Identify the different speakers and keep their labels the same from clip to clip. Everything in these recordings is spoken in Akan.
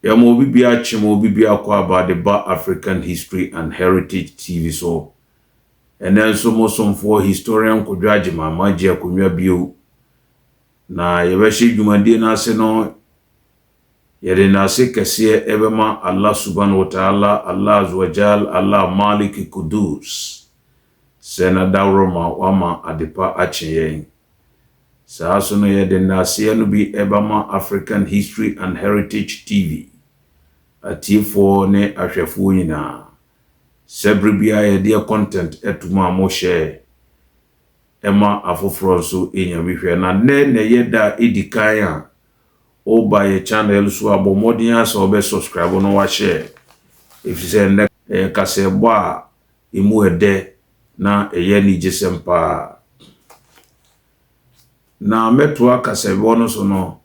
Speaker 1: Yɛma obi biara kye ma obi biara kɔ About the Ba African History and Heritage TV so. Ɛnnɛ nso mo somfoɔ Historian Kojo Agyemang magye akonnwa bio na yɛbɛhyɛ dwumadie no ase no yɛde nnase kɛseɛ ɛbɛma Allah Subhan wa Taala, Allah Azz wa Jal, Allah Malik Qudus sɛ n'adaworoma wama adepa akye yɛn. Saa nso no yɛde nnaaseɛ no bi bɛma African History and Heritage TV atiefoɔ ne ahwɛfoɔ nyinaa sɛ berɛ biara yɛdeɛ content to mo a mo share ma afoforɔ nso nya bi hwɛ. Na nnɛ na ɛyɛ da a ɛdi kan a woba yɛ channel so a bɔ mmɔden ara sɛ wobɛ subscribe na wa share ɛfiri sɛ nnɛ ɛyɛ kasɛɛbɔ a emu ɛdɛ na ɛyɛ anigyesɛm paa. Na mɛtoa kasabɔ no so no,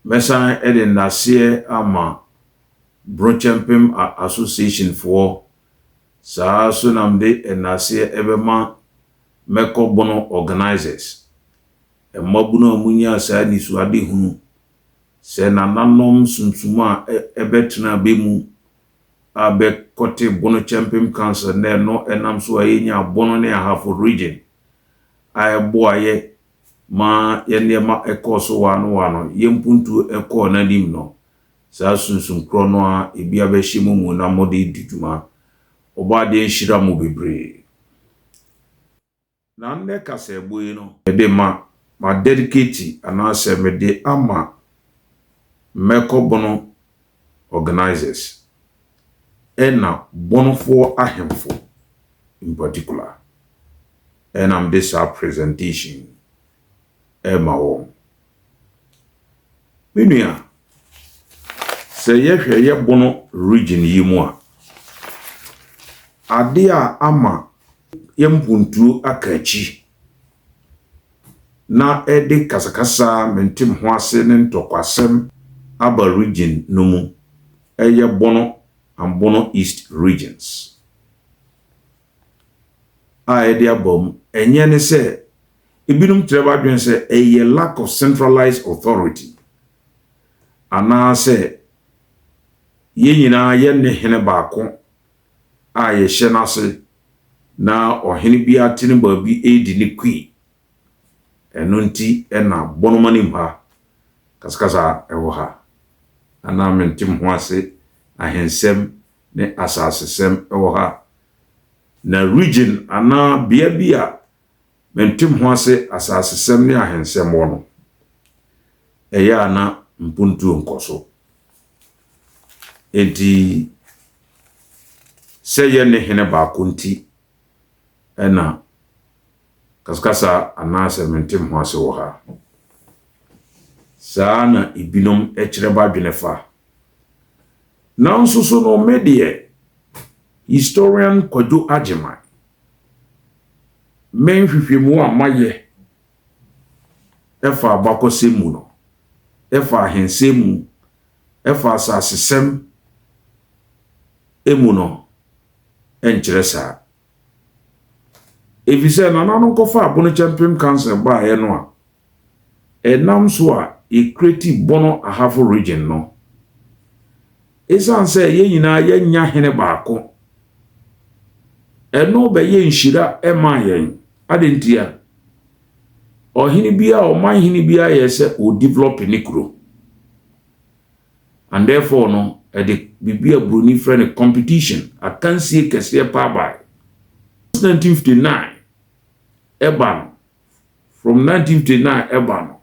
Speaker 1: mɛsan de nnaseɛ ama Brocɛmpem Association foɔ, saa ara nso na mede nnaseɛ bɛma Mɛkɔ Bono Organisers, mmabunu a monyaa saa anisoadehunu sɛ nananom sunsum a ɛbɛtena bɛ mu a bɛ kɔte Bono Kyɛmpem Council nnɛ no ɛnam so a yɛnyaa Bono ne Ahafo Region a ɛboa yɛ ma yɛn nneɛma ɛkɔɔ so waano waano, yɛn mpuntuo ɛkɔɔ n'anim no. Saa sunsum korɔ no ara ebi abɛhyɛ mo mu na mode redi dwuma. Ɔbɔadeɛ nhyira mo bebree. Na ndɛ kasaɛbɔ yi no. Mede ma, ma dedicate anaasɛ mede ama Mmɛkɔ Bono organisers ɛna Bonofoɔ ahemfo in particular ɛna mede saa presentation yi ɛma wɔn. Me nua, sɛ yɛhwɛ yɛ Bono region yi mu a, adeɛ a ama yɛ mpontuo aka akyi na ɛde kasakasa a mente me ho ase ne ntɔkwasɛm aba region no mu, ɛyɛ Bono and Bono East regions a ɛde aba mu. Ɛnyɛ ne sɛ ebinom kyerɛ w'adwene sɛ ɛyɛ lack of centralized authority anaasɛ yɛn nyinaa yɛnne hene baako a yɛhyɛ no ase na ɔhene biara te ne baabi redi ne kui. Ɛno nti na bɔnoma anim ha kasakasa wɔ ha, na na mente me ho ase, ahensɛm ne asasesɛm wɔ ha. Na region anaa bea bi a Mente me ho ase asasesɛm ne ahensɛm hɔ no, ɛyɛ a na mpontuo nkɔ so. Enti sɛ yɛnne hene baako nti na kaskasa anaasɛ mente me ho ase wɔ ha. Saa na ebinom kyerɛ badwene fa. Nanso so no me deɛ, historian Kwadwo Agyeman, Me nhwehwɛmu a mayɛ fa abakɔsɛm mu no, fa ahensɛm mu, fa asasesɛm mu no nkyerɛ saa. Efisɛ nananom kɔfa abono kyɛmpem kansa baeɛ no a, Ɛnam so a yɛkreti Bono Ahafo Region no, ɛsiane sɛ yɛn nyinaa yɛnya hene baako, ɛno bɛyɛ nhyira ɛmaa yɛn. Adɛn ntia? Ɔhene biara, ɔman hene biara yɛ sɛ ɔdevelop ne kuro. And therefore no, ɛde biribi a buroni frɛ no competition, akansie kɛseɛ paa bae. 1959 ɛba no, From nineteen twenty nine ɛba no,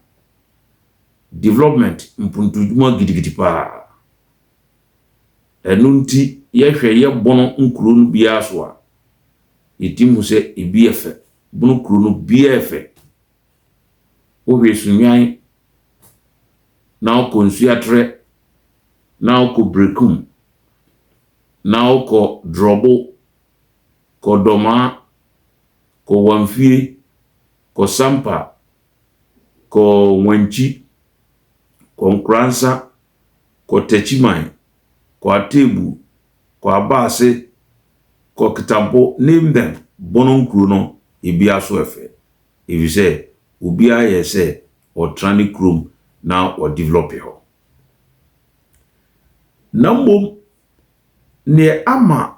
Speaker 1: development mpontodwuma gidigidi paa. Ɛno nti yɛhwɛ yɛ Bono nkuro no biara so a, yɛtim hu sɛ ebi yɛ fɛ. Bono kuro no biara yɛ fɛ. Wohwɛ Sunwan, na wokɔ Nsuatrɛ, na wokɔ Brekum, na wokɔ Drɔbo, kɔ Dɔmaa, Kɔ Wanfie, kɔ Sampa, kɔ Wankyi, kɔ Nkoransa, kɔ Takyiman, kɔ Atebu, kɔ Abaase, kɔ Kitampo, name them, Bono nkuro no ebiara so ɛfɛ efisɛ obiara yɛ sɛ ɔtra ne kurom na ɔdevelɔpe hɔ. Na mmom neɛ ama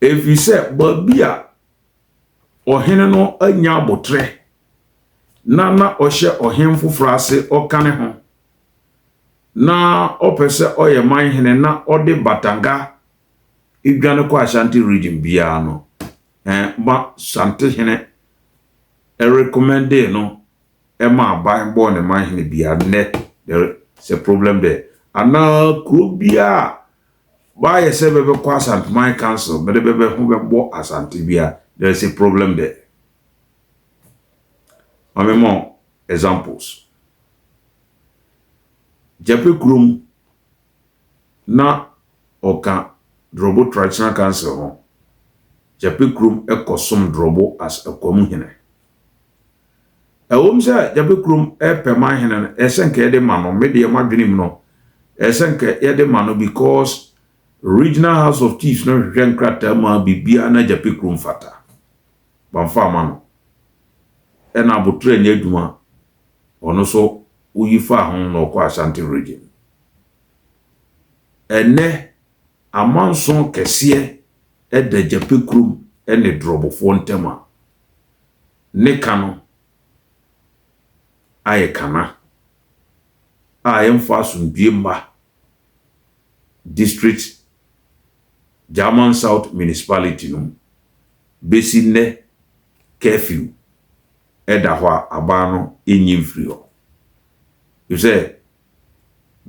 Speaker 1: Ɛfiri sɛ baabi a ɔhene no anya aboterɛ na na ɔhyɛ ɔhene foforɔ ase ɔka ne ho na ɔpɛ sɛ ɔyɛ man hene na ɔde batanga dwane kɔ Ashanti region biara no eh, ma Shanti hene recommendee no ɛma aban bɔɔ ne man hene biara nnɛ there is a problem there anaa kuro biara W'ayɛ sɛ bɛ bɛ kɔ Asante man council bɛ de bɛ bɛ ho bɛ bɔ Asante bia there is a problem there ma me ma wo examples Gyapɛ kurom na ɔka Drɔbo traditional council ho Gyapɛ kurom kɔ som Drɔbo as Akwamu hene. Ɛwom sɛ Gyapɛ kurom pɛ ma hene no, ɛsɛ sɛ nka yɛde ma no, me deɛ m'adwenem no, ɛsɛ sɛ nka yɛde ma no because Regional House of Chiefs no hwehwɛ nkrataa mu a biribiara na Gyapɛ kurom fata. Bamfa amma no. Ɛna Aboterɛ nyɛ adwuma a, ɔno nso woyi faa ho na ɔkɔɔ Ashanti Region. Ɛnnɛ, amanson kɛseɛ da Gyapɛ kurom ne Drɔbofoɔ ntam a, Ne ka no ayɛ kana a yɛmfa asomdwoe mma district German South Municipality no mu. Besi nnɛ curfew da hɔ a aban no nnyi mfiri hɔ. Efisɛ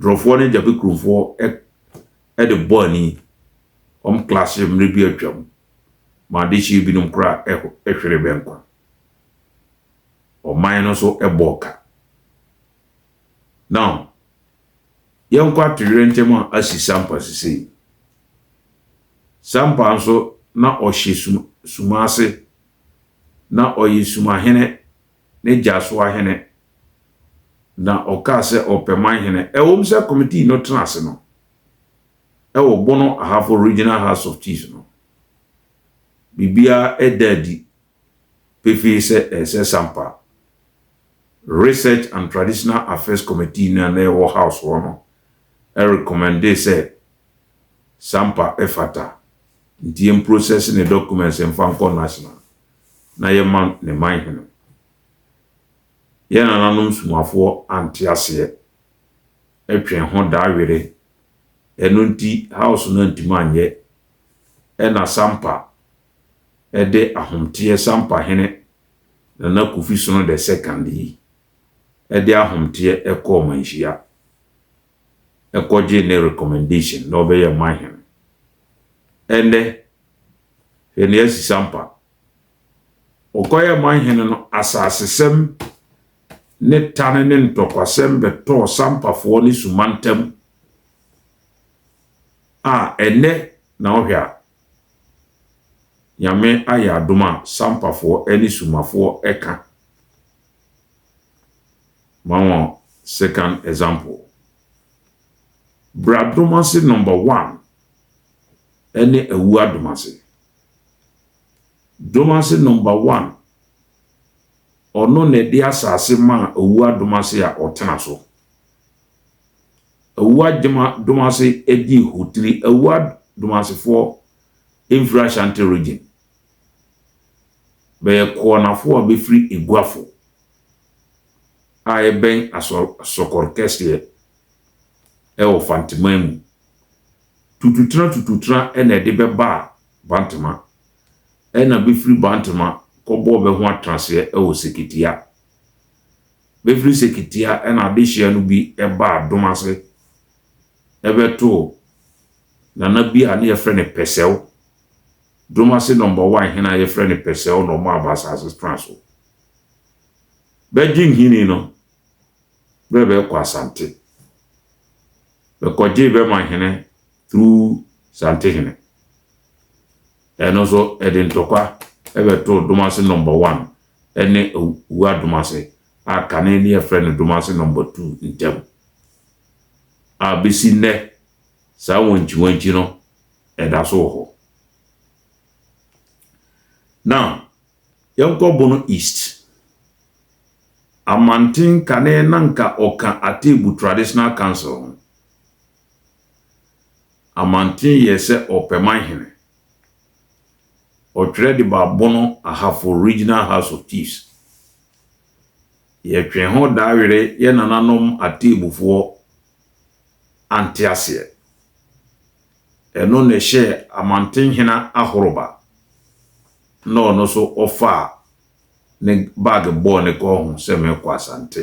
Speaker 1: Drɔfoɔ ne Gyapekronfoɔ de bɔɔ ani wɔn class mmerɛ bi atwam ma adehyeɛ binom koraa hweree bɛ nkwa. Ɔman no nso bɔɔ ka. Now, yɛnkɔ atoyerɛnkyɛm a asi Sampa sesei. Sampa nso na ɔhyɛ sum suma ase. Na ɔyɛ sumahene ne gyasoahene. Na ɔkaa sɛ ɔpɛ manhene. Ɛwom sɛ kɔmitii no tena ase no, wɔ Bono Ahafo Regional House of Chiefs no, biribiara da adi pefee sɛ ɛsɛ sɛ ampa Research and Traditional Affairs Committee no a na ɛwɔ House hɔ no rekɔmmɛndee sɛ Sampa fata nti yɛmprosɛse ne documents mfa nkɔ National na yɛma ne man hene. Yɛn nananom sumafoɔ ante aseɛ. Ɛtwɛn ho da were. Ɛno nti house no antumi anyɛ. Ɛna Sampa de ahomteɛ Sampa hene Nana Kofi Sono the second yi de ahomteɛ kɔɔ Manhyia kɔgyee ne recommendation na ɔbɛyɛ Manhene. Ɛnnɛ hwɛ nea asi Sampa. Wɔkɔyɛɛ mo ahene no asasesɛm ne tane ne ntɔkwasɛm bɛtɔɔ sampafoɔ ne suma ntam a ɛnnɛ na wohwɛ a, Nyame ayɛ adom a sampafoɔ ne sumafoɔ ka. Ma wɔn second example. Bradom ase number one ne Awuo adom ase. Domase number one ɔno na ɛde asase maa Awuah Domase a ɔtena so. Awuah Gyama Domase di Hotiri Awuah Domasefoɔ mfiri Ashanti Region. Bɛyɛ Koɔnafoɔ a bɛfiri Eguafo a ɛbɛn Asɔkɔre kɛseɛ ɛwɔ Fanteman mu. Tututena tututena na ɛde bɛbaa Bantama, ɛna bɛfiri Bantama kɔbɔɔ bɛ ho atenaseɛ wɔ Seketia. Bɛfiri Seketia ɛna adehyea no bi baa Domase bɛtoo Nana bi a ne yɛfrɛ no Pɛsɛw. Domase Number One hene a yɛfrɛ no Pɛsɛw na ɔmaa bɛ asase tena so. Bɛgye nhini no berɛ bɛrekɔ Asante. Bɛkɔgyee bɛ ma hene through Santehene. Ɛno nso ɛde ntɔkwa bɛtoo Domase Number One ne Awuraa Domase a kane ne yɛfrɛ no Domase Number Two ntam. A bɛsi nnɛ saa wankyiwankyi no ɛda so wɔ hɔ. Now, yɛnkɔ Bono East. Amanten kane na nka ɔka Atebu Traditional Council ho. Amanten yɛ sɛ ɔpɛman hene. Ɔtwerɛ de baa Bono Ahafo Regional House of Chiefs. Yɛtwee ho daa were yɛ nananom Ateemufoɔ anteaseɛ. Ɛno na ɛhyɛɛ Amanten hena Ahoroba na ɔno nso ɔfaa ne bag bɔɔ ne kɔn ho sɛ merekɔ Asante.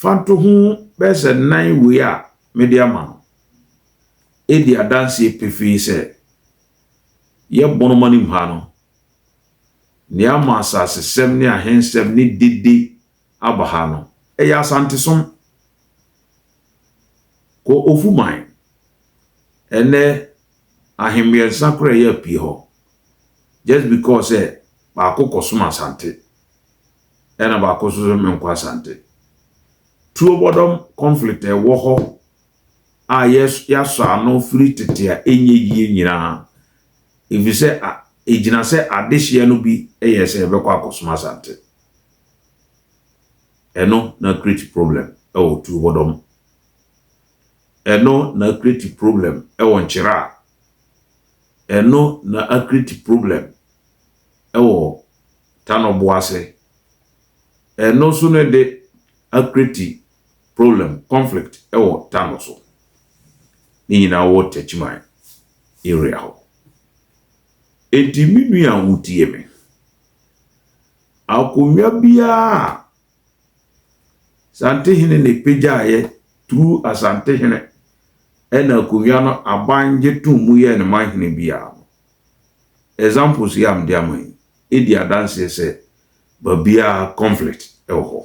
Speaker 1: Fa ntoho bɛyɛ sɛ nnan wei a mede ama no di adanseɛ pefee sɛ yɛ Bonomanim ha no, nea ama asasesɛm ne ahensɛm ne dede aba ha no, ɛyɛ Asantesom. Kɔ Ofuman, ɛnnɛ Ahemmiɛnsa koraa yɛ apue hɔ just because sɛ baako kɔsom Asante. ɛna baako nso sɛ menkɔ Asante. Tuo bɔdɔm conflict a ɛwɔ hɔ a yɛasɔ ano firi tete a ɛnyɛ yie nyinaa ɛfiri sɛ ɛgyina sɛ adehyeɛ no bi yɛ sɛ yɛbɛkɔ akɔsom Asante. Ɛno na create problem ɛwɔ tuo bɔdɔm. Ɛno na create problem ɛwɔ nkyerɛ a. Ɛno na create problem ɛwɔ ta no bo ase. Ɛno nso no de acreate problem, conflict wɔ ta no so. Ne nyinaa wɔ Techiman area hɔ. Enti me nua a wotie me, akonnwa biara a Santehene na ɛpagyaeɛ through Asantehene ɛna akonnwa no aban gye tom mu yɛɛ no manhene biara no, examples yi a mede ama yi, di adanseɛ sɛ baabiara conflict wɔ hɔ.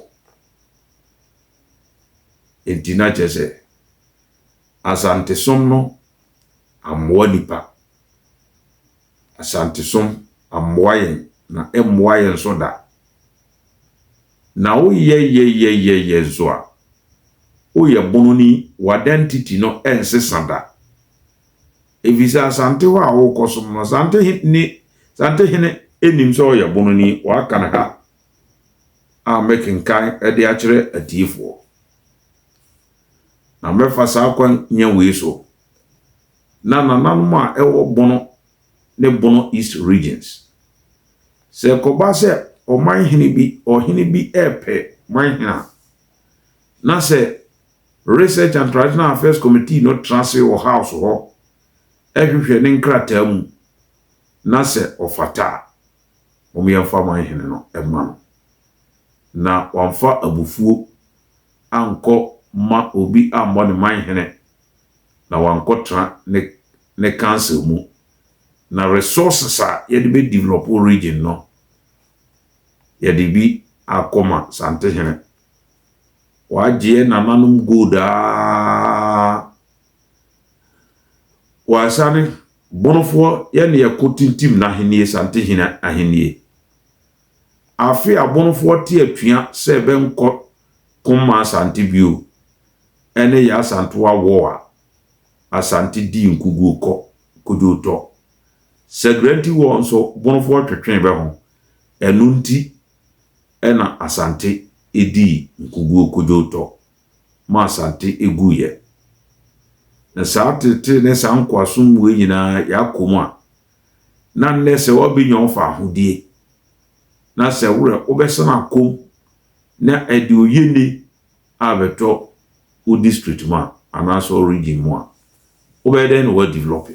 Speaker 1: Enti na kyerɛ sɛ Asantesom no ammoa nnipa. Asantesom ammoa yɛn na ɛmmoa yɛn nso da. Na woyɛ yɛ yɛ yɛ yɛ nso a, woyɛ bononi, w'identity no ɛnsesa da. Efisɛ Asante hɔ a worekɔsom no, Asante ne Asante hene nnim sɛ ɔyɛ Bononi, wɔaka no ha a mekenkan de akyerɛ atiefoɔ. Na mɛfa saa kwan nya wei so, na nananom a ɛwɔ Bono ne Bono East Regions, sɛ ɛkɔba sɛ ɔman hene bi, ɔhene bi repɛ man hene a, na sɛ Research and Traditional Affairs Committee no tra ase wɔ House hɔ hwehwɛ ne nkrataa mu na sɛ ɔfata a, wɔmfa man hene no mma no. Na wɔamfa abufuo ankɔ ma obi ammɔ ne man hene na wankɔtra ne ne council mu. Na resources a yɛde bɛ develop region no, yɛde bi akɔma Santehene. W'agyeɛ nananom gold aa. W'asane bonofoɔ yɛ ne yɛ ko tintim n'ahennie Santehene ahennie. Afe a bonofoɔ te atua sɛ ɛbɛ nkɔ ko mma Asante bio ɛne yɛ Asantewa war a Asante dii nkuguo kɔ kodwo tɔ. Sagrenti war nso bonofoɔ twetwee bɛ ho ɛno nti na Asante dii nkoguo kodwowtɔ ma Asante guiɛ. Na saa teetee ne saa nkoasom mmuɛ nyinaa yɛakɔ mu a, na nnɛ sɛ wabɛnya wo faahodie na sɛ worɛ wobɛsan akɔ mu na ɛde oyene abɛtɔ wo district mu a anaasɛ wo region mu a, wobɛyɛ dɛn na woadevelɔpe?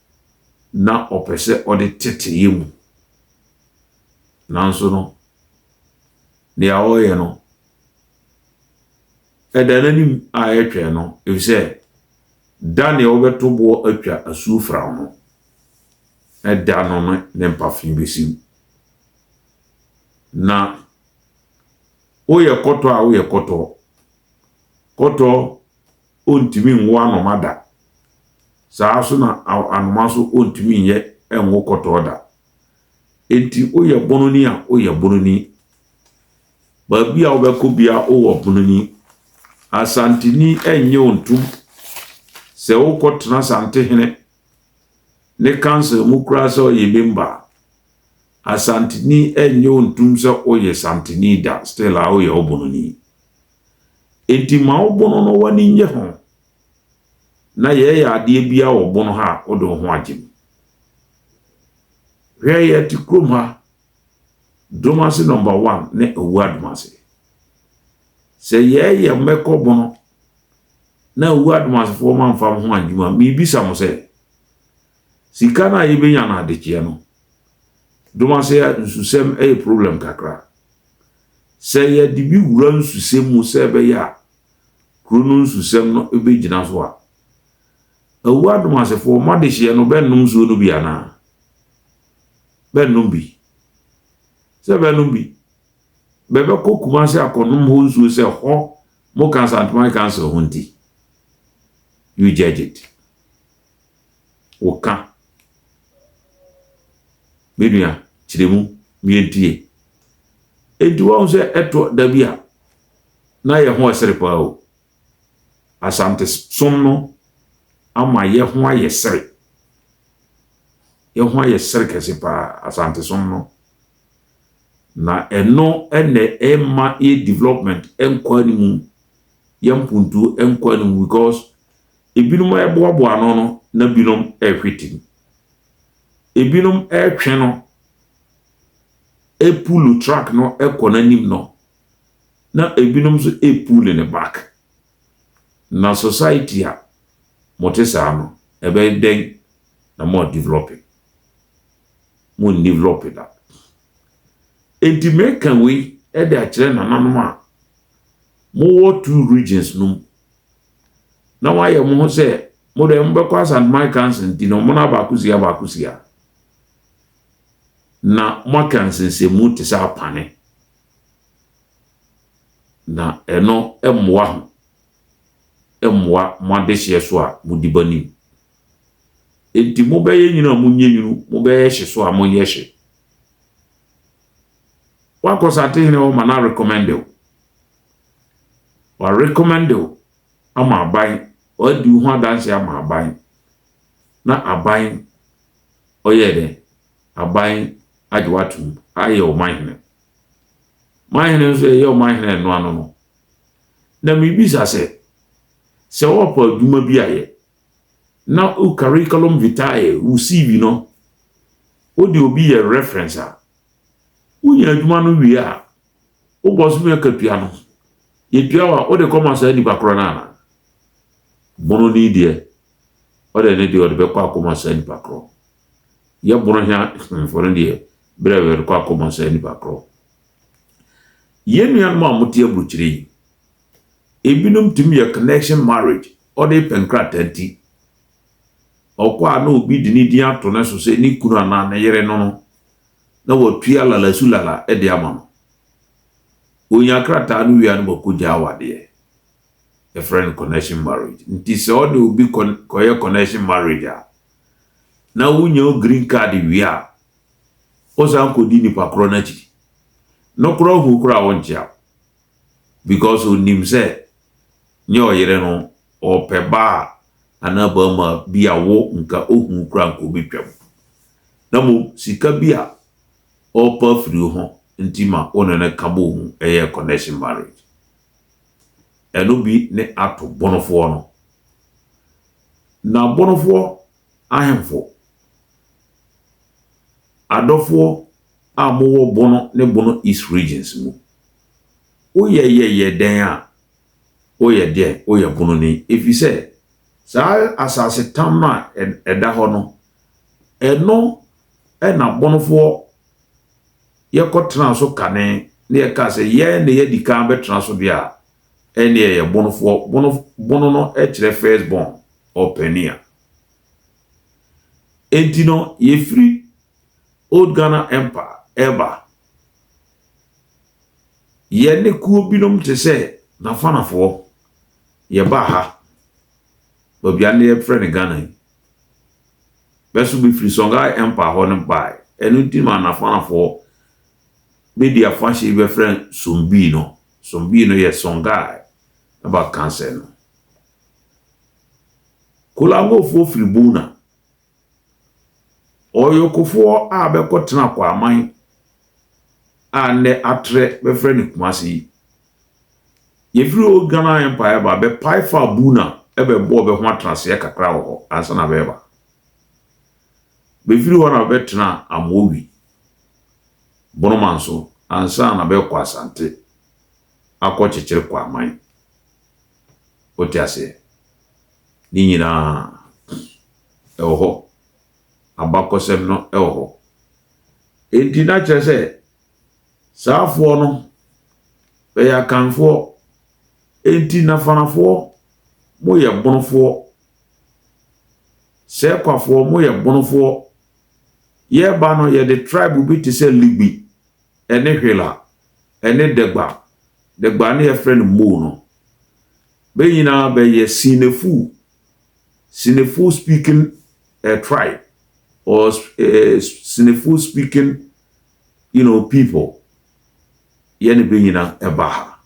Speaker 1: na ɔpɛ sɛ ɔde tete yɛn mu. Nanso no, nea ɔreyɛ no, ɛda n'anim a ɛretwɛn no, efisɛ da nea wɔbɛto boɔ atwa asuo firaw no, ɛda no no ne mpafe bɛsiw. Na woyɛ kɔtɔ a woyɛ kɔtɔ, kɔtɔ ɔntumi nwo anoma da. Saa ara nso na anoma nso ɔntumi nyɛ nwo kɔtɔɔ da. Enti woyɛ bononi a, woyɛ bononi. Baabi a wobɛkɔ bia wowɔ bononi. Asanteni nnye wo ntom. Sɛ wokɔtena Asantehene ne council mu koraa sɛ ɔyɛ member a, Asanteni nnye wo ntom sɛ woyɛ Santeni da, still a woyɛ ɔbononi. Enti ma wo bono no w'ani nnye ho, na yɛyɛ adeɛ biara wɔ bono ha a, wode wo ho agye mu. Hwɛ yɛte kurom ha, dom ase nɔmba one ne Awuo Adomase. Sɛ yɛyɛ mmɛkɔ bono na Awuo Adomasefoɔ mamfa mo ho angyem a, mebisa mo sɛ, sika no a yɛbɛnya no adekyeɛ no, dom ase a nsusɛm yɛ problem kakra. Sɛ yɛde bi wura nsusɛm mu sɛ ɛbɛyɛ a kuro no nsusɛm no bɛgyina so a, Awu adom asefoɔ, mo adehyeɛ no bɛnnom nsuo no bi anaa? Bɛnnom bi. Sɛ bɛnnom bi, bɛbɛkɔ Kumase akɔnom hɔ nsuo sɛ hɔ mo Kansanteman Council ho nti. You judge it. woka me nua kyerɛ mu miedie enti wahu sɛ ɛtɔ da bi a na yɛ ho ɛsere paa o asante som no ama yɛ ho ayɛ sere yɛ ho ayɛ sere kɛse paa asante som no na ɛno ɛnɛ ɛma yɛ development ɛnkɔ anim yɛ mpuntuo ɛnkɔ anim because Ebinom reboaboa ano no na binom rehwete mu. Ebinom retwe no epuulu truck no kɔ n'anim no, na ebinom nso epuulu ne back. Na society a mote saa no, ɛbɛyɛ dɛn na mo adevelope? Mondevelope da. Enti meka wei de akyerɛ nananom a mowɔ two regions no mu na moayɛ mo ho sɛ mo deɛ mobɛkɔ Asanteman Council nti na ɔmono abaako si abaako si a, na moaka nsensɛnmu te sɛ apane. Na ɛno mmoa ho mmoa mo adehyeɛ so a modi ba nim. Enti mobɛyɛ nwunu a monyɛ nwunu, mobɛyɛ hye so a monyɛ hye. Woakɔ Satehene hɔ ma no arekɔmɛnde wo. Wa recommend wo ama aban, w'adi wo ho adanseɛ ama aban, na aban ɔyɛɛ dɛn? Aban agye w'atom ayɛ wo manhene. Manhene nso ɛyɛ wo manhene ɛno ano no. Na mebisa sɛ, sɛ wɔpɔ adwuma bi ayɛ, na wo curriculum vitae, wo CV no, wode obi yɛ reference a, wonya adwuma no wie a, Wokɔ so yɛ katua no, yɛtua wo a, wode kɔma saa nnipa korɔ no anaa? Bono ni deɛ, ɔde ne deɛ ɔde bɛkɔ akɔma saa nnipa korɔ. Yɛ bono hea hemfo no deɛ, berɛ a yɛde kɔ akɔma saa nnipa korɔ. Yɛn nuanom a mote aburukyire yi, ebinom tumi yɛ connection marriage, ɔde pɛ nkrataa nti. Ɔkɔ a na obi de ne din ato ne so sɛ ne kunu anaa ne yere no no, na wɔatua lalasulala de ama no. Ɔnya krataa no wie a na wɔakɔgya awadeɛ. Yɛfrɛ no connection marriage. Nti sɛ ɔne obi kɔyɛ connection marriage a, na wonya wo green card wie a, wosan kɔdi nipa korɔ no akyiri. Nokorɛ ɔhoo koraa a ɔnkyea wo. because onim sɛ nyɛ ɔyere no ɔpɛ baa anaa barima bi a wo nka ohu kora nka obetwam na mo sika bi a ɔpɛ afiri wo ho nti ma wo ne no ka bɔ hu ɛyɛ connection marriage ɛno bi ne ato bonofoɔ no na bonofoɔ ahemfo adɔfoɔ a mowɔ Bono ne Bono East Regions mu. Woyɛ yɛ yɛ dɛn a, woyɛ deɛn? Woyɛ Bononi ɛfiri sɛ saa asase tam no a ɛda hɔ no, ɛno na Bonofoɔ yɛkɔtenaa so kane na yɛkaa sɛ yɛn na yɛadi kan bɛtena so deɛ a, ɛnneɛ yɛyɛ Bonofoɔ. Bono, Bono no kyerɛ first born or pioneer. Enti no, yɛfiri Old Ghana Empire reba. Yɛne kuo binom te sɛ Nafanafoɔ, yɛbaa ha. Baabi a nnɛ yɛfrɛ no Ghana yi. Bɛso bɛfiri Songhai Empire hɔ no baeɛ. Ɛno nti ma Nafanafoɔ bɛdi afahyɛ yi bɛfrɛ no Sombii no. Sombii no yɛ Songhai ɛba Kansai no. Kolangofoɔ firi Buna. Ɔyokofoɔ a bɛkɔtena Kwaman a nnɛ atrɛ bɛfrɛ no Kumase yi, yɛfiri Old Ghana Empire ba bɛpae faa Buna bɛbɔɔ bɛ ho atenaseɛ kakra wɔ hɔ ansa na bɛreba. Bɛfiri hɔ na bɛbɛtenaa Amowi, Bonomanso ansa na bɛrekɔ Asante akɔkyekyere Kwaman. Wote aseɛ? Ne nyina ara ɛwɔ hɔ. Abakɔsɛm no wɔ hɔ. Enti na kyerɛ sɛ, saafoɔ no, bɛyɛ Akanfoɔ. Enti na Fanafoɔ, moyɛ Bonofoɔ. Sequafoɔ, moyɛ Bonofoɔ. Yɛreba no, yɛde tribe bi te sɛ Libi ne hwela ne dagba, dagba a na yɛfrɛ no mou no, bɛ nyinaa bɛyɛ Sinefo, Sinefo speaking uh, tribe or uh, Sinefo speaking you know, people. Yɛne bɛ nyinaa ɛba ha.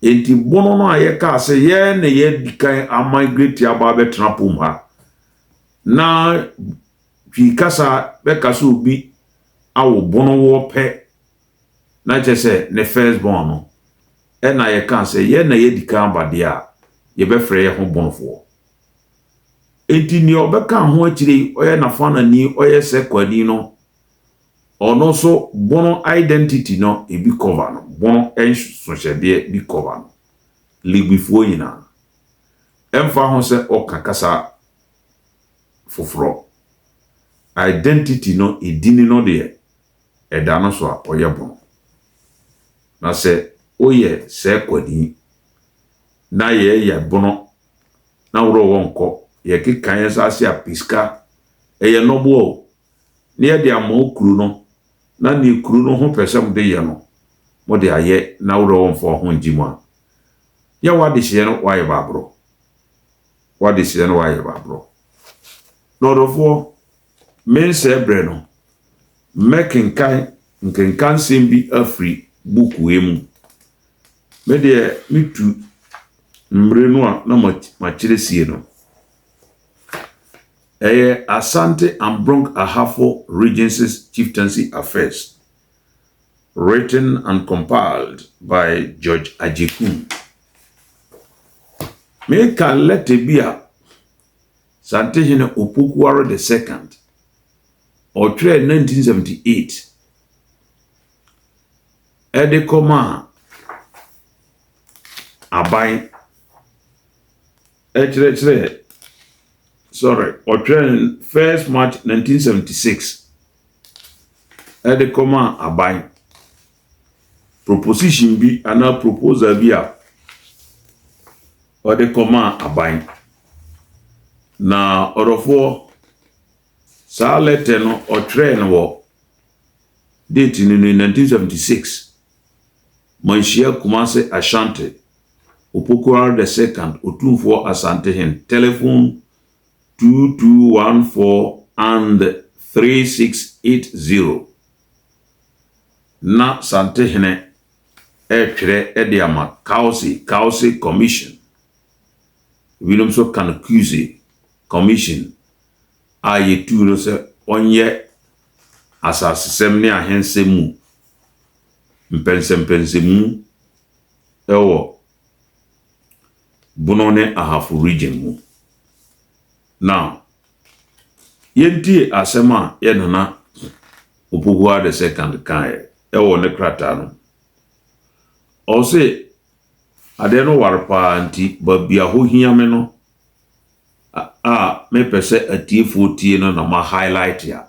Speaker 1: Enti bono no a yɛkaa sɛ yɛn na yɛadi kan a migrate aba abɛtena pom ha na Twi kasa bɛka sɛ obi awo bonowoɔ pɛ na kyerɛ sɛ ne first born no na yɛka sɛ yɛn na yɛadi kan aba deɛ a, yɛbɛfrɛ yɛn ho bonofoɔ. Enti deɛ ɔbɛka ho akyire yi, ɔyɛ n'afanani, ɔyɛ sɛ kwani no, ɔno nso bono identity no ebi cover no, bono nsohyɛdeɛ bi cover no. Ligbifoɔ nyinaa, ɛmfa ho sɛ ɔka kasa foforɔ. Identity no, edini no deɛ, ɛda no so a, ɔyɛ bono. Na sɛ woyɛ sɛɛkwani na yɛɛyɛ bono na worɔ hɔ nkɔ, yɛkeka yɛn nsa ase a, pɛ sika, ɛyɛ nnɔboa o, na yɛde ama wo kuro no, na neɛ kuro no ho pɛ sɛ mode yɛ no, mode ayɛ na worɔ hɔ mfa wo ho ngye mu a, yɛ w'adehyeɛ no, woayɛ baaborɔ. w'adesrɛ na w'ayɛ w'aborɔ. Na ɔdɔfoɔ, me nsɛɛ berɛ no, mɛkenkan nkenkansɛm bi afiri buku wei mu. Me deɛ me tu mmere no a na makyerɛ sie no. Ɛyɛ Asante and Brong Ahafo Regency's Chieftaincy Affairs. Written and compiled by George Agyekun Meka lɛtɛ bi a Santehene Opoku-Ware the Second ɔtwerɛɛ 1978 de kɔmaa aban kyerɛkyerɛɛ sorry ɔtwerɛɛ no first March 1976 de kɔmaa aban. Proposition bi anaa proposal bi a ɔde kɔmaa aban. Na ɔdɔfoɔ, saa lɛtɛ no ɔtwerɛɛ no wɔ date no ni 1976. Manhyia Kumase Ashanti, Opoku Ardesecond, Otumfoɔ Asantehin, telephone two two one four and three six eight zero. Na Santehene retwerɛ de ama Kawse, Kawse Commission, ebinom nso ka no Kuse Commission, a yɛtuu no sɛ ɔnyɛ asasesɛm ne ahensɛm mu mpɛnsɛmpɛnsɛmu wɔ Bono ne Ahafo region mu. Now, yɛntie asɛm a yɛn Nana Opoku the second kaeɛ ɛwɔ ne krataa no mu. Ɔse, adeɛ no ware paa nti baabi a hɔ hia me no a mepɛ sɛ atiefoɔ tie no na ma highlight a,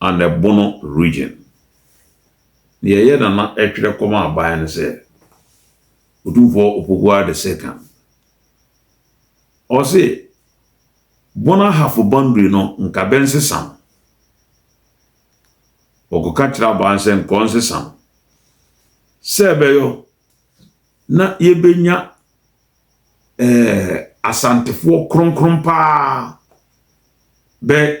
Speaker 1: Anebono Region. Nea ɛyɛ na na ɛtwerɛ kɔma aban no sɛ, Otumfoɔ Opoku-Aah the Second, ɔse, Bono Ahafo boundary no nka bɛnsesa no. Wɔkɔka kyerɛ aban sɛ nka ɔnsesa no, sɛ ɛbɛyɔ na yɛbɛnya ɛɛ Asantefoɔ kronkron paa bɛ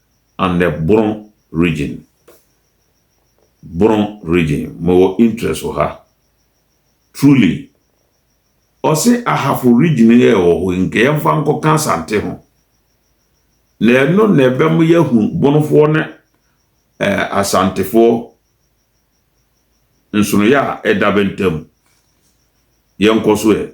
Speaker 1: and the Boron region. Boron region, mewɔ interest wɔ ha. Truly, ɔse Ahafo region yɛ ɛwɔ hɔ, nka yɛmfa nkɔka Asante ho. Na ɛno na ɛbɛma yɛahu Bonofoɔ ne eh, Asantefoɔ nsonoyɛ a ɛda bɛntam. Yɛnkɔ so ɛ.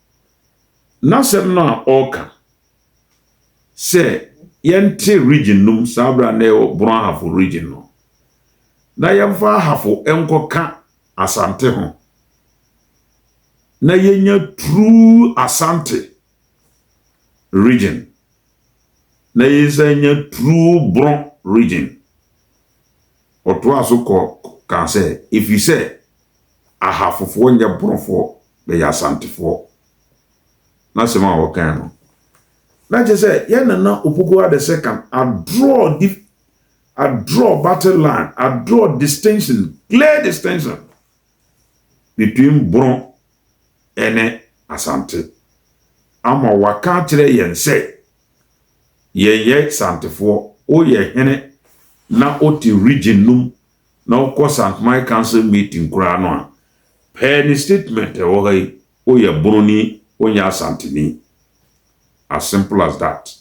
Speaker 1: N'asɛm no a ɔreka sɛ yɛnte region no mu saa berɛ a na yɛwɔ Borɔn Ahafo region no na yɛmfa Ahafo nkɔka Asante ho na yɛnya true Asante region na yɛsan nya true Borɔn region. Ɔtoaa so kɔ kaa sɛ ɛfiri sɛ Ahafofoɔ nyɛ Borɔfoɔ, bɛyɛ Asantefoɔ. N'asɛm a ɔkae no, na kyerɛ sɛ yɛn Nana Opoku Adesekan adraw dif, adraw battle line, adraw distinction, clear distinction between Borɔ ne Asante ama waka akyerɛ yɛn sɛ yɛyɛ Santefoɔ, woyɛ hene na wote region no mu na wokɔ St. Mike Council meeting koraa no a, pɛɛ ne statement a ɛwɔ ha yi, woyɛ Boroni, wonyɛ Asanteni. As simple as that.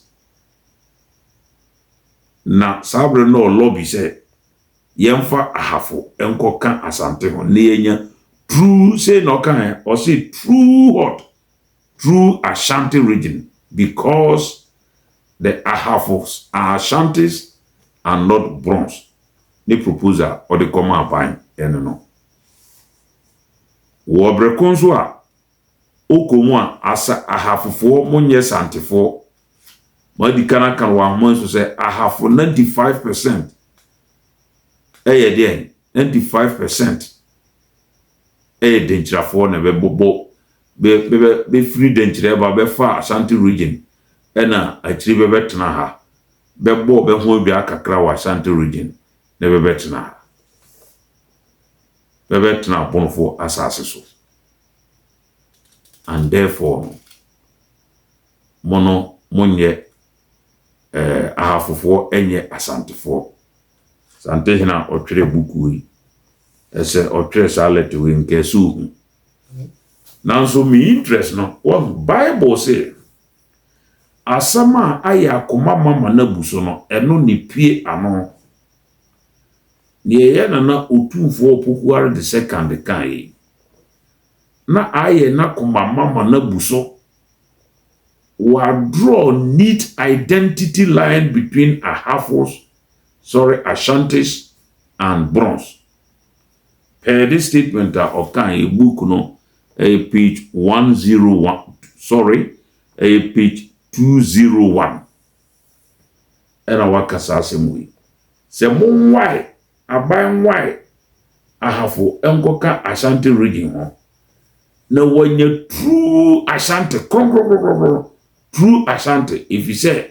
Speaker 1: Na saa bere no ɔ lobby sɛ yɛmfa Ahafo nkɔka Asante ho na yɛanya true, sei na ɔkaeɛ, ɔse true hot through Ashanti region because the Ahafos are Ashantis and not Brons ne propose a ɔde kɔmaa Vine ɛno no. Wɔ bere ko nso a ɔkɔ mu a asa Ahafofoɔ mo nyɛ Santefoɔ. Moadi kan aka no wɔ ahoma nso sɛ Ahafo 95 percent ɛyɛ deɛn? 95 percent yɛ Denkyirafoɔ na bɛbobɔ bɛ bɛ bɛfiri Denkyira ba bɛfaa Ashanti region ɛna akyiri bɛbɛtena ha bɛbɔɔ bɛ ho dwaa kakra wɔ Ashanti region ne bɛbɛtena ha bɛbɛtena Abonofoɔ asaase so and therefore no mo no monyɛ eh, Ahafofoɔ nyɛ Asantefoɔ Asante hene a ɔtwerɛɛ buku yi, ɛsɛ ɔtwerɛ saa lɛtɛ wei nka ɛsɛ ohu. Nanso me interest no, wahu Bible se asɛm a ayɛ akoma ma ma no abu so no, ɛno ne pue ano. Deɛ ɛyɛ nana otumfoɔ Opokuware the second ka yi, na ayɛ n'akoma ma ma no abu so. Wɔadraw neat identity line between Ahafos sɔre Ashantis and Brons. Per this statement a ɔkaeɛ book no ɛyɛ page one zero one sorry ɛyɛ page two zero one ɛna waka saa asɛm wei sɛ mo nwae aban nwae ahafo nkɔka Ashanti region ho na wɔanya true Ashanti kronkronkronkron true Ashanti efisɛ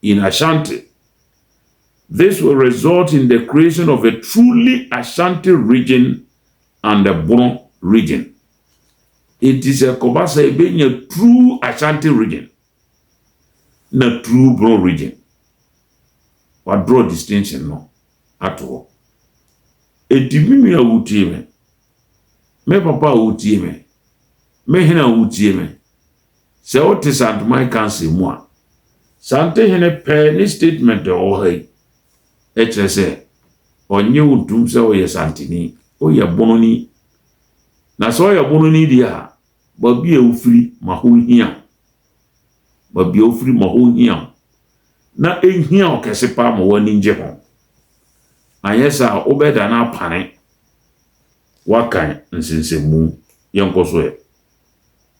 Speaker 1: in Ashanti. This will result in the creation of a truly Ashanti region and the Bono region. Enti sɛ ɛkɔba sɛ ebenya true Ashanti region na true Bono region. Wadraw distinction no ato hɔ. Enti me nua a wotie me, me papa a wotie me, me hene a wotie me, Sɛ wote Santoman Council mu a, Sante hene pɛ ne statement a ɔwɔ ha yi kyerɛ sɛ ɔnnye wo ntom sɛ woyɛ Santeni, woyɛ Bononi. Na sɛ ɔyɛ Bononi deɛ a, baabi a wofiri ma hɔ hia wo. Baabi a wofiri ma hɔ hia wo. Na ɛhia wo kɛse paa ma w'ani ngye ho. Anyɛ saa a, wobɛda no apane. Woakan nsensɛnmu. Yɛnkɔ so ɛ.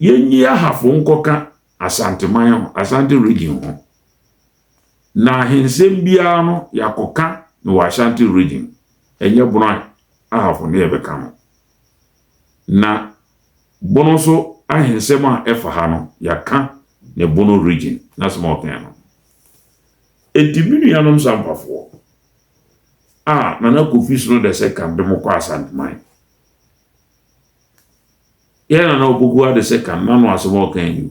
Speaker 1: yɛnyi Ahafo nkɔka Asanteman ho, Asante Region ho, na ahensɛm biara no yɛakɔka no wɔ Ashanti Region, ɛnyɛ Bono a Ahafo ne yɛbɛka no. Na Bono nso ahensɛm a ɛfa ha no, yɛaka ne Bono Region n'asɛm a ɔkae no. Enti me nuanom Sampafoɔ a Nana Kofi Sno Dɛsɛ ka de mo kɔ Asanteman, Yɛn na na okogu ade sɛ kan na no asɛm a ɔkae ni o.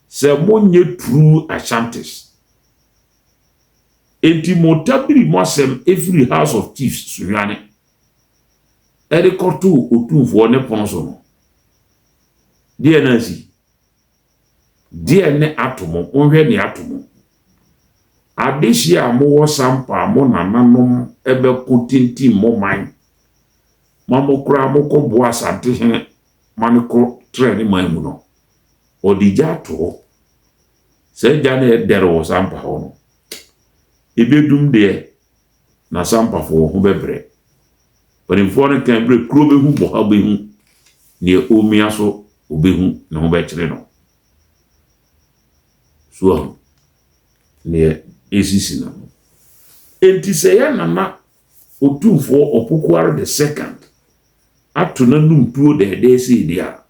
Speaker 1: Sɛ monyɛ true Ashantis. Enti mo tabiri mo asɛm efiri House of Chiefs Suhwane ɛde kɔtoo Otumfoɔ ne pono so no, deɛ na asi? Deɛ ne ato mo, monhwɛ nea ato mo. Adehyeɛ a mowɔ sampa a mo nananom bɛko tintim mo man ma mo koraa mokɔ boa Asantehene ma no kɔ trɛ ne man mu no, ɔde gya ato hɔ. Saa gya no a ɛdɛre wɔ sampa hɔ no, ɛbɛdum deɛ na sampafo wɔ ho bɛbrɛ. Mpanimfoɔ no kan berɛ kuro bɛhu bɔha bɛhu deɛ ɔmia so ɔbɛhu ne ho bɛkyere no. So ahu deɛ ɛsisi no. Enti sɛ yɛ nana ɔtumfoɔ ɔpokuare the second ato n'anum tuo dɛɛdɛɛ sei deɛ a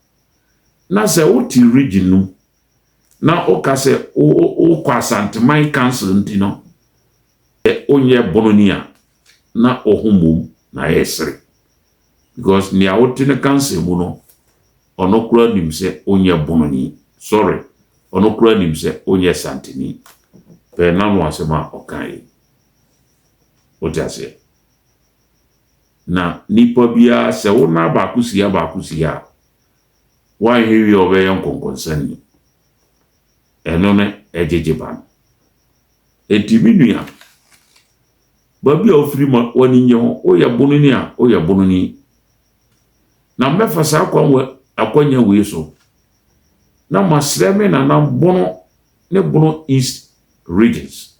Speaker 1: na sɛ wote region no na woka sɛ wokɔ Asanteman Council nti no wonyɛ Bononi a, na wo ho mmom na yɛresere. Because nea wote no council mu no, ɔno koraa nim sɛ wonyɛ Bononi. Sorry, ɔno koraa nim sɛ wonyɛ Santini. Pɛ n'ano asɛm a ɔka yi. Wote aseɛ? Na nipa biara sɛ wo nan baako si ha baako si ha a, Wanhwɛ wie a ɔbɛyɛ nkɔnkɔnsani. Ɛno ne ɛgyegye ba no. Enti me nua, baabi a wofiri ma w'ani nnye ho, woyɛ bononi a, woyɛ bononi. Na mɛfa saa kwan wɔ akwanya wei so na masrɛ me nanam Bono ne Bono East Regions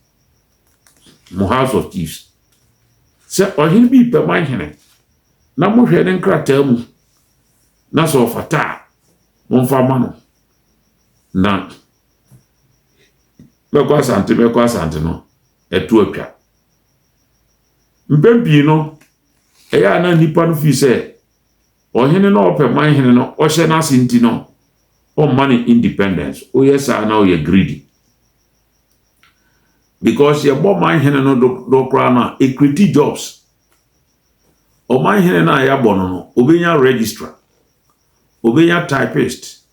Speaker 1: mo House of Chiefs sɛ ɔhene bi pɛ ma nhene na mohwɛ ne nkrataa mu na sɛ ɔfata a, momfa ma no. Na mɛkɔ Asante mɛkɔ Asante no, ɛto atwa. Mpɛn pii no, ɛyɛ a na nnipa no fii sɛ ɔhene na ɔpɛ man hene no ɔhyɛ n'ase nti no ɔmma no independence woyɛ saa na ɔyɛ greedy because yɛbɔ man hene no dodoɔ koraa no a ɛkreti jobs Ɔmanhene no a yɛabɔ no no, ɔbɛnya registrar, ɔbɛnya typist,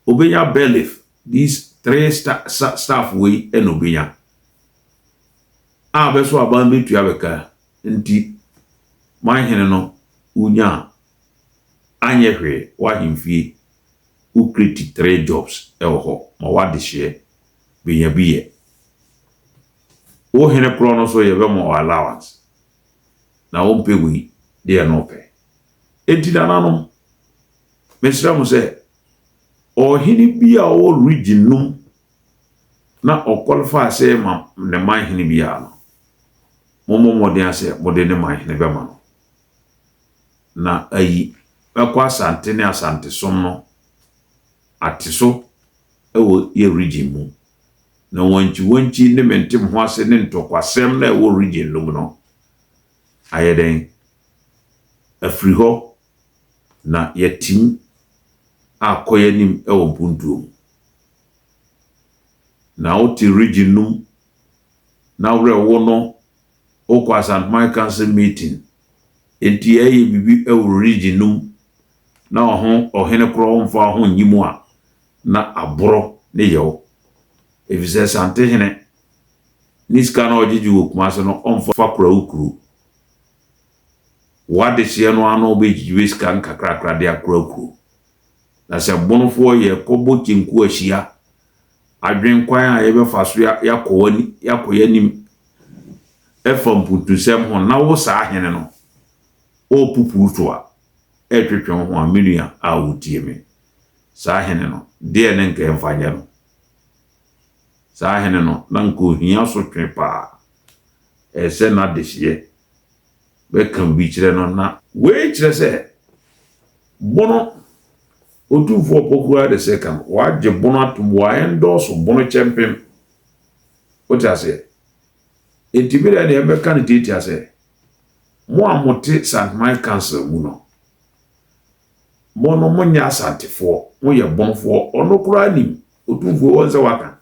Speaker 1: ɔbɛnya bailiff, these three staff wei na ɔbɛnya a bɛso aban bɛtua bɛka nti manhene no wonya a anyɛ hwee w'ahemfie wo kreti three jobs ɛwɔ hɔ ma w'adehyeɛ bɛnya bi yɛ wo hene korɔ no so yɛbɛma wɔ allowance na ɔmpɛ wei deɛ na ɔpɛ. Enti nananom, mesrɛ mo sɛ, ɔhene bi a ɔwɔ region no mu na ɔqualify sɛ ma ne man hene biara no, mommɔ mmɔden a sɛ mode ne man hene bɛma no. Na ayi bɛkɔ Asante ne Asante som no ate so wɔ yɛ region mu na wankyiwankyi ne mentem ho ase ne ntɔkwasɛm no a ɛwɔ region no mu no ayɛ dɛn afiri hɔ na yɛatim akɔ yɛn anim wɔ mpuntuo mu. Na wote region no mu na werɛ wo no wokɔ Asantman Council meeting enti yɛyɛ biribi wɔ region no mu na ɔho ɔhene korɔ mfa ho nnyi mu a na aboro ne yaw efisɛ Asantehene ne sika no a ɔgyegye wɔ Kumase no ɔmfa kora wo kuro. Wo adehyeɛ no ara na ɔbɛgyigye sika nkakrakra de akora kuro. Na sɛ Bonofoɔ yɛrekɔbɔ kyenku ahyia adwene kwan a yɛbɛfa so yɛakɔ yɛanim ɛfa mpuntusɛm ho na wo saa hene no ɔrepupurutoa ɛretwetwe wo ho a, me nua a wotie me, Saa hene no, deɛn ne nka yɛmfa nyɛ no? Saa hene no, na nka ohia sotwe paa. Ɛyɛ sɛ n'adehyeɛ bɛka obi kyerɛ no na. Wei kyerɛ sɛ, bono, Otumfoɔ Opoku-Agyar the Second, wagye bono atom, wa-endorse bono kyɛmpem. Wote aseɛ? Enti me deɛ deɛ mɛka no tiatia sɛ, mo a mote St. Mike Council mu no, Mo no monyɛ Asantefoɔ, moyɛ bɔnfoɔ, ɔno koraa nim, Otumfuo wɔn sɛ waka,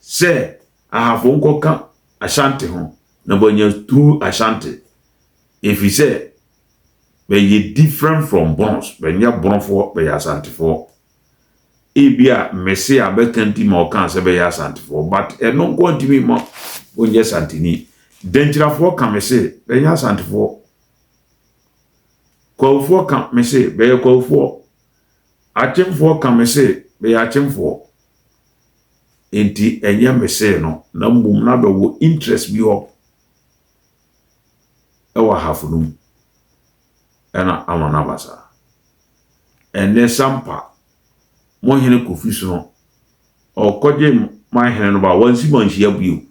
Speaker 1: sɛ Ahafo nkɔka Ashante ho na moanya through Ashante, ɛfiri sɛ bɛyɛ different from Bons, bɛnyɛ Bɔnfoɔ, bɛyɛ Asantefoɔ. Ebia mmese a bɛka nti ma ɔkaa sɛ bɛyɛ Asantefoɔ, but ɛno nko ntumi mma ɔnyɛ Santeni. Dankyirafoɔ ka me se bɛnyɛ Asantefoɔ. Kwawofoɔ ka me se, bɛyɛ kwawofoɔ. Akyemfoɔ ka me se, bɛyɛ akyemfoɔ. Enti ɛnyɛ me see no, na mmom na bɛwɔ interest bi hɔ wɔ ahafo no mu ɛna ama no aba saa. Ɛnnɛ Sampa, mo hene Kofi Sono, ɔkɔgye man hene no ba, wansi manhyia bio.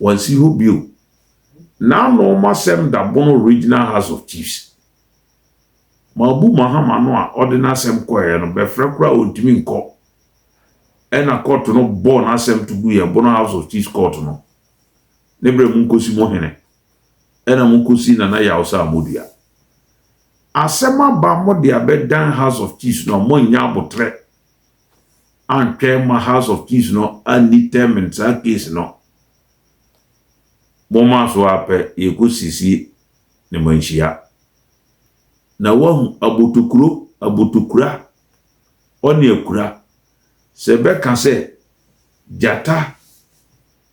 Speaker 1: Wɔnsi hɔ bio. N'ano ma sɛm da Bono Regional House of Chiefs. Mabu Mahama no a ɔde n'asɛm kɔeɛ no, bɛfrɛ koraa a ɔntumi nkɔ. Ɛna kɔɔto no bɔɔ n'asɛm to guiɛ, Bono House of Chiefs kɔɔto no. Ne berɛ monkɔsi mo hene. Ɛna mokɔsii Nana Yaw sɛ amodua. Asɛm aba mode abɛdan House of Chiefs no a moannya aboterɛ. antwɛn ma House of Chiefs no an determine saa case no, wɔmaa so ara pɛ yɛkɔsisi ne manhyia. Na woahu abotokuro, abotokura, ɔne akura, sɛ ɛbɛka sɛ gyata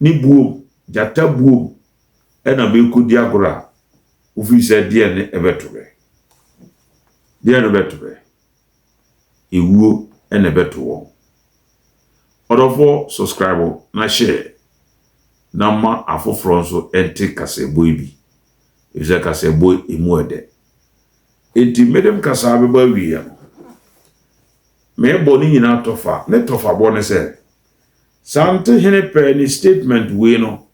Speaker 1: ne buom, gyata buom na merekɔdi agorɔ a, wofiri sɛ deɛn ne ɛbɛto me? Deɛn ne bɛto me? ewuo na ɛbɛto wɔn. Ɔdɔfoɔ subscribe na share na ma afoforɔ nso nte kaseɛbɔ yi bi efisɛ kaseɛbɔ yi emu ɛdɛ. Enti mede mkasaa bɛba awieɛ no meebɔ ne nyinaa tɔfa, ne tɔfabɔ ne sɛ saa Ntehene pɛɛ ne statement wei no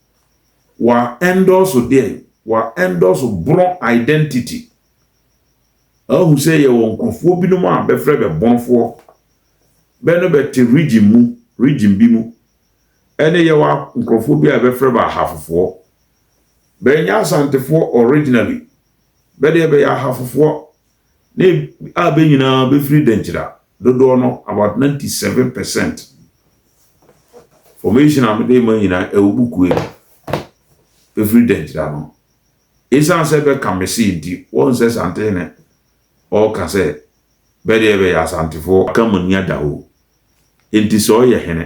Speaker 1: wa endorse deɛn? Wa endorse borɔn identity. Ahu sɛ yɛwɔ nkurɔfoɔ binom a bɛfrɛ bɛ bɔnfoɔ, bɛ no bɛte region mu, region bi mu, ɛne yɛwɔ nkurɔfoɔ bi a bɛfrɛ bɛ Ahafofoɔ. Bɛ nyɛ Asantefoɔ originally, bɛ deɛ bɛyɛ Ahafofoɔ, ne a bɛ nyinaa bɛfiri Dankyira, dodoɔ no about 97 percent. Formation a mede ma nyinaa ɛwɔ bukue, bɛfiri Dankyira no. Esiane sɛ bɛka me se nti, woahu sɛ Santee na ɔreka sɛ bɛ deɛ bɛyɛ Asantefoɔ. Aka mo ani ada hoo. Enti sɛ ɔyɛ hene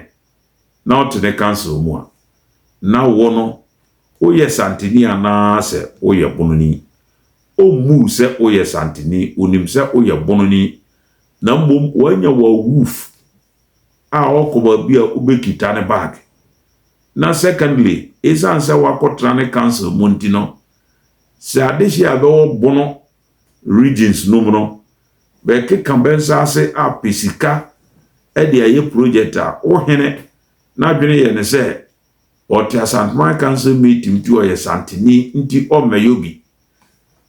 Speaker 1: na ɔte ne council mu a, na wo no woyɛ Santeni anaasɛ woyɛ Bononi? Ɔmmuu sɛ woyɛ Santeni, ɔnim sɛ woyɛ Bononi na mmom wanya wo awuuf. a ɔkɔ baabi a wobɛkita ne bag. Na secondly, ɛsiane sɛ wakɔtra ne council mu nti no, sɛ adehye a ɛbɛwɔ Bono regions no mu no, bɛkeka bɛnsaase apɛ sika de ayɛ project a, wo hene n'adwene yɛ ne sɛ ɔtse Asanteman Council meeting ntsi ɔyɛ Santeni ntsi ɔmmɛyɛ obi.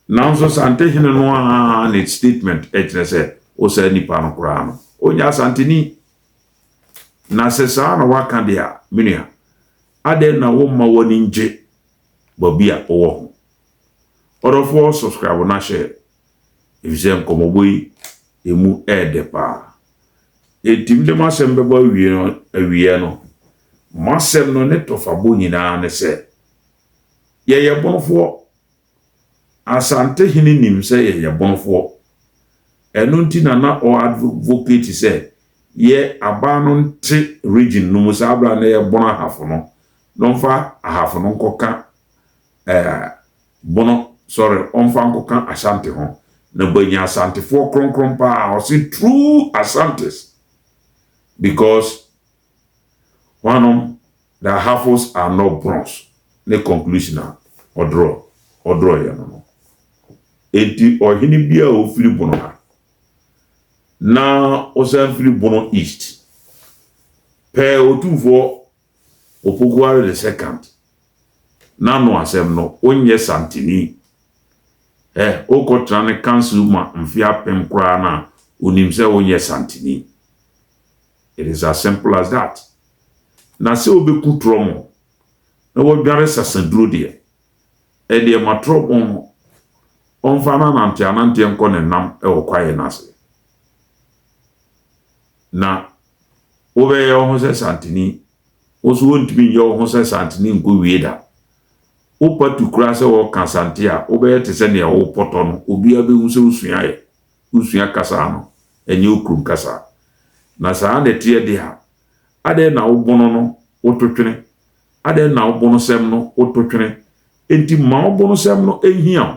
Speaker 1: Naaso Santehene no ara ne statement kyerɛ sɛ osaa nyimpa no koraa no, ɔnnyɛ Asanteni. Na sɛ saa na wɔaka dze a, me nua, adɛn na womma w'ani nngye bɔbi a ɔwɔ ho? Ɔdɔfoɔ subscribe na hyɛ efisɛ nkɔmmɔbɔ yi emu yɛ dɛ paa. Enti mede m'asɛm bɛbɔ awie no awieɛ no, m'asɛm no ne tɔfabɔ nyinaa ne sɛ, yɛyɛ bonofoɔ. Asantehene nim sɛ yɛyɛ bonofoɔ. Ɛno nti na na ɔ advocate sɛ yɛ abaa no nte region no mu saa berɛ a na yɛbono ahafo no, na ɔmfa ahafo no nkɔka eh, Bono, sɔre, ɔmfa nkɔka Ashanti ho, na bɔ anya Asantefoɔ kronkron paa, ɔse true Asantes, because hwanom the Ahafos are not Bonos ne conclusion a ɔdrɔ, ɔdrɔeɛ no no. Enti ɔhene biara a ɔfiri Bono ha, na ɔsan firi Bono East, pɛɛ Otumfoɔ Opokuare the second n'ano asɛm no wonyɛ santini ɛ wokɔtena ne council ma mfe apem koraa no a onim sɛ wonyɛ santini it is as simple as that na sɛ wobɛku trɔmo na wadware sasaduro deɛ ɛdeɛ ma trɔmo no ɔmfa n'ananteananteɛ nkɔ ne nam wɔ kwaeɛ no ase na Wobɛyɛ wo ho sɛ Santini. Wo nso wontumi nyɛ wo ho sɛ Santini nkowie da. Wopa tu koraa sɛ wɔka Asante a, wobɛyɛ te sɛ nea worepɔtɔ no. Obiara bɛhu sɛ wosuaeɛ. Wosua kasa no, ɛnyɛ wo kurom kasa. Na saa na ɛteɛ deɛ a, adɛn na wo bono no woto twene? Adɛn na wo bonosɛm no woto twene? Enti mma wo bonosɛm no nhia wo.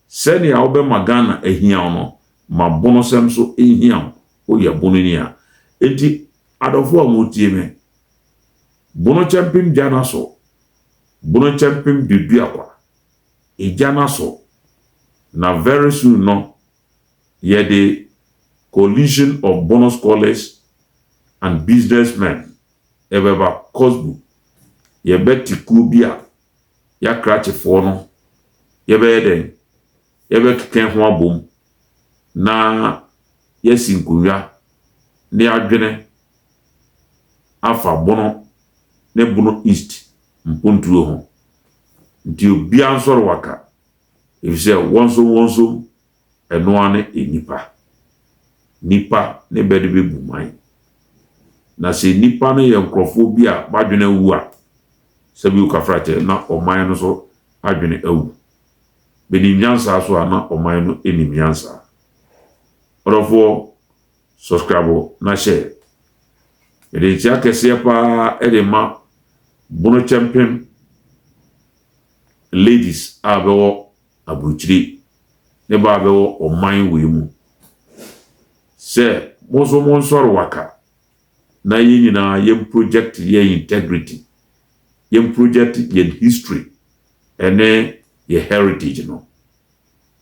Speaker 1: Sɛnea wobɛma Ghana ahia wo no, ma bonosɛm nso nhia wo. Woyɛ bono ni a, enti adɔfo a motie me, bono kyɛmpem gya no aso, bono kyɛmpem duadua kwa, egya no aso, na very soon no yɛde Coalition of Bono Scholars and Businessmen ɛbɛba Cosbu, yɛbɛte kuo bi a yɛakrakye foɔ no, yɛbɛyɛ dɛn? yɛbɛkeka ho abom na yɛasi nkonnwa na yɛadwene afa Bono ne Bono East mpontuo ho. Nti obiara nsɔre waka, efisɛ wɔnsomwɔnsom, ɛno ara ne nnipa. Nnipa ne bɛde bɛbu man. Na sɛ nnipa no yɛ nkurɔfoɔ bi a b'adwene awu a, sɛbi wo kafrakyɛ na ɔman no nso adwene awu. Menim nyansa so a na ɔman no nim nyansa. Ɔdɔfoɔ subscribe na hyɛ. Mede nkyea kɛseɛ paa de ma Bonokyɛmpem ladies a bɛwɔ aburukyiri ne baa bɛwɔ ɔman wei mu sɛ mo nso mo nsɔre waka na yɛn nyinaa yɛn project yɛn integrity yɛn project yɛn history ɛne yɛ heritage no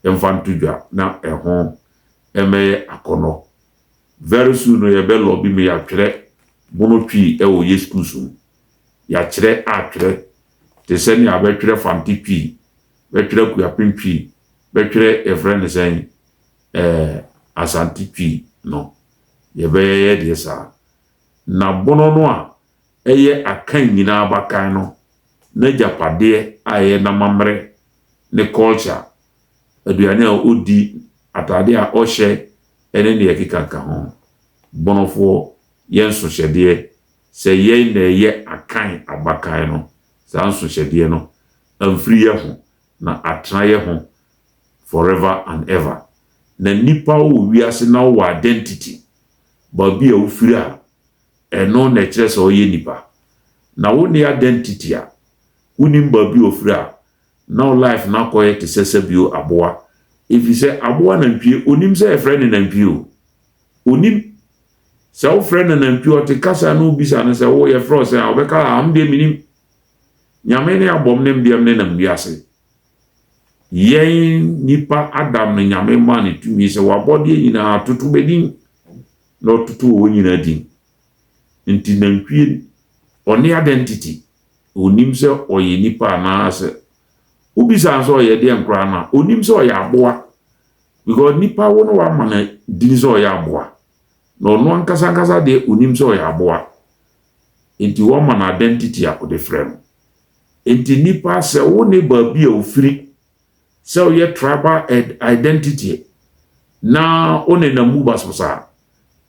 Speaker 1: mfa nto dwa na ɛho mmɛyɛ akɔnnɔ. Very soon no yɛbɛ lɔbi me yɛatwerɛ mono twii wɔ yɛ schools mu. Yɛakyerɛ atwerɛ te sɛ nea bɛtwerɛ Fante twii, bɛtwerɛ Akuapem twii, bɛtwerɛ yɛfrɛ no sɛn ɛɛ Asante twii no. Yɛbɛyɛ deɛ saa. Na bono no a Ɛyɛ Akan nyinaa abakan no n'agyapadeɛ a ɛyɛ n'amammerɛ, ne culture, aduane a ɔdi, ataadeɛ a ɔhyɛ ne deɛ ɛkekaka ho. Bonofoɔ, yɛ nsohyɛdeɛ sɛ yɛn na ɛyɛ Akan abakan no, saa nsohyɛdeɛ no amfiri yɛn ho na atena yɛn ho forever and ever. Na nipa wɔ wiase na wowɔ identity, baabi a wofiri a ɛno na ɛkyerɛ sɛ ɔyɛ nipa na wonni identity a wonim baabi a ofiri a na wo life no akɔyɛ te sɛ sɛbio aboa efisɛ aboa nantwie onim sɛ yɛfrɛ no nantwie o onim sɛ wofrɛ no nantwie ɔte kasa no wobisa no sɛ wo yɛfrɛ ɔsɛ a ɔbɛka a am deɛ menim nyame ne abɔm ne mbeam ne nam wiase yɛn nipa adam no nyame maa no tumi sɛ wabɔdeɛ nyinaa toto bɛdin na ɔtoto wɔn nyinaa din. Enti nantwie, ɔne identity, ɔnnim sɛ ɔyɛ nipa anaasɛ wobisa no sɛ ɔyɛ deɛn koraa no a, ɔnnim sɛ ɔyɛ aboa because nipa wo no wama no din sɛ ɔyɛ aboa na ɔno ankasa ankasa deɛ ɔnnim sɛ ɔyɛ aboa enti wɔma no identity a wɔde frɛ no. Enti nipa sɛ wo ne baabi a ofiri sɛ woyɛ tribal identity na wo nenam mu basabasa a,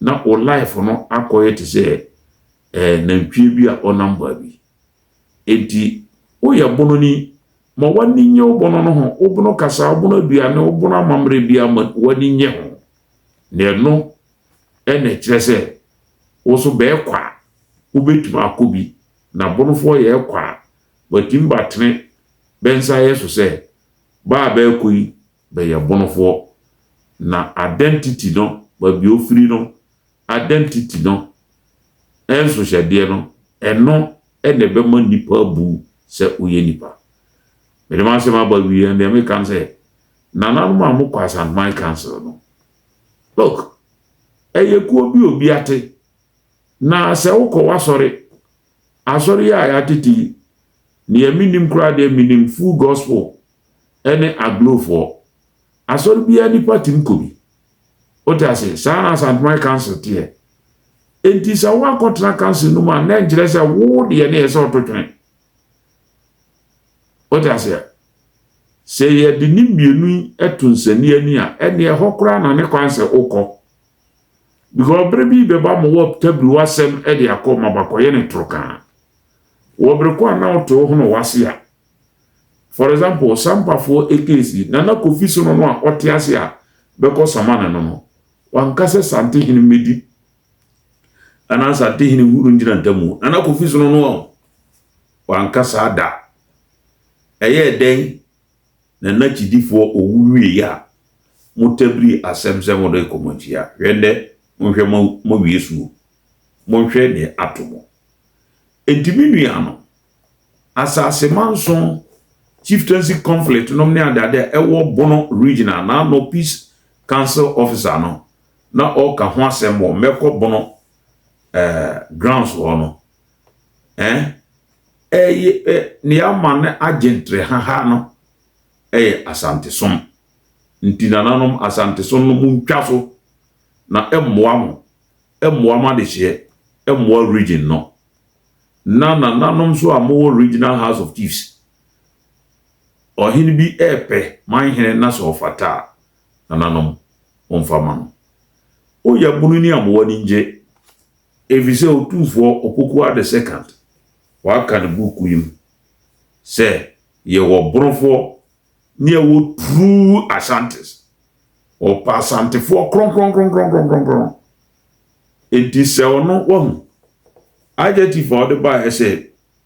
Speaker 1: na wo life no akɔyɛ te sɛ eh, nantwie bi a ɔnam baabi. Enti woyɛ bononi ma w'ani nye wo bono no ho, wo bono kasa, wo bono aduane, wo bono amammerɛ biara ma w'ani nye ho. Na ɛno na ɛkyerɛ sɛ wo nso bɛɛkɔ a wobɛtumi akɔ bi. Na bonofoɔ yɛ ɛkɔ a, watumi batene bɛ nsa yɛ so sɛ ba a bɛɛkɔ yi bɛyɛ bonofoɔ, na adɛ ntiti no, baabi a ofiri no, adɛ ntiti no nsohyɛdeɛ no, ɛno na ɛbɛma nnipa abu sɛ woyɛ nnipa. Mede m'asɛm aba awieɛ no deɛ meka ne sɛ, nananom a mokɔ Asanteman Council no, look, ɛyɛ kuo bi a obi ate, na sɛ wokɔ w'asɔre, asɔre yi a yɛatete yi, Nea minnim koraa deɛ menim Full Gospel ne Aglofoɔ. Asɔre biara nnipa tumi kɔ bi. Wote ase? Saa na Asanteman Council teɛ. Enti sɛ woankɔtena council no mu a, na ɛnkyerɛ sɛ wo deɛ ne yɛ sɛ ɔto twene. Wote aseɛ? Sɛ yɛde ne mmienu yi to nsania ni a, ɛnneɛ ɛhɔ koraa na ne kwan sɛ wokɔ. Because bere bi bɛba ma wɔatabiri w'asɛm de akɔ ma bakɔyɛ ne torokaa. Wɔ bere ko a na wote wo hono w'ase a, for example, sampafoɔ ekesi, Nana Kofi Sono no a ɔte ase a bɛkɔ sama ne no no, wanka sɛ Santehene mmɛdi anaa Santehene hunu ngyina ntamu. Nana Kofi Sono no a wanka saa da. Ɛyɛɛ dɛn na na gyidifoɔ owu wieɛ a mo tabiri asɛm sɛ mo rekɔ mo akyi a hwɛ ndɛ mo nhwɛ mo mo awie suo mo nhwɛ deɛ ato mo enti me nua no asase manso chieftaincy conflict nom ne adeade a ɛwɔ bono region a na ano peace council officer no na ɔka ho asɛm wɔ mɛkɔ bono eh, grounds hɔ no. eh, ɛyɛ ɛ ne ama no agye nterehaha no ɛyɛ asantesom nti nananom asantesom no mu ntwa so na ɛmmoa mo ɛmmoa mo adehyeɛ ɛmmoa region no na nananom nso a mowɔ regional house of chiefs ɔhene bi ɛɛpɛ man hene na sɛ ɔfata a nananom ɔmfa ma no woyɛ bunu ni a mowɔ ani ngye Efisɛ Otumfoɔ Opoku Adesekant waka ne buuku yi mu sɛ yɛwɔ Borofoɔ ne ɛwɔ true Ashantis. Ɔpɛ Asantefoɔ kronkronkronkronkronkron. Enti sɛ ɔno, wahu. Adjective a ɔde baeɛ sɛ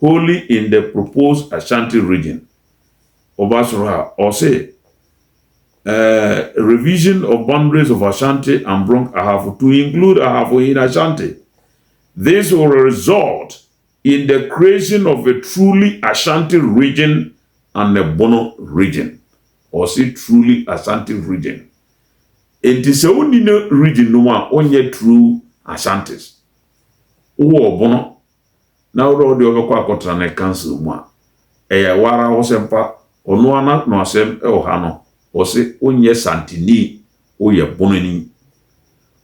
Speaker 1: wholly in the proposed Ashanti region, woba soro ha a, ɔse eh, revision of boundaries of Ashanti and Brong Ahafo to include Ahafo in Ashanti. This will result in the creation of a truly Ashanti region and a Bono region. Ɔse truly Ashanti region. Enti sɛ wonni no region no mu a, wonyɛ true Ashantis. Wowɔ Ɔbono na wo dɛ wo de wɔbɛkɔ akɔtena ne council mu a, ɛyɛ wo ara wo sɛ mfa ɔno ara na no asɛm wɔ ha no, wɔse wo nyɛ santini, wo yɛ bonani.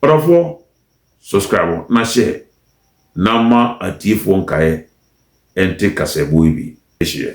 Speaker 1: Ɔdɔfoɔ, subscribe na share na ma atiefoɔ nkaeɛ nte kasaɛbɔ yi bi. Hyɛ.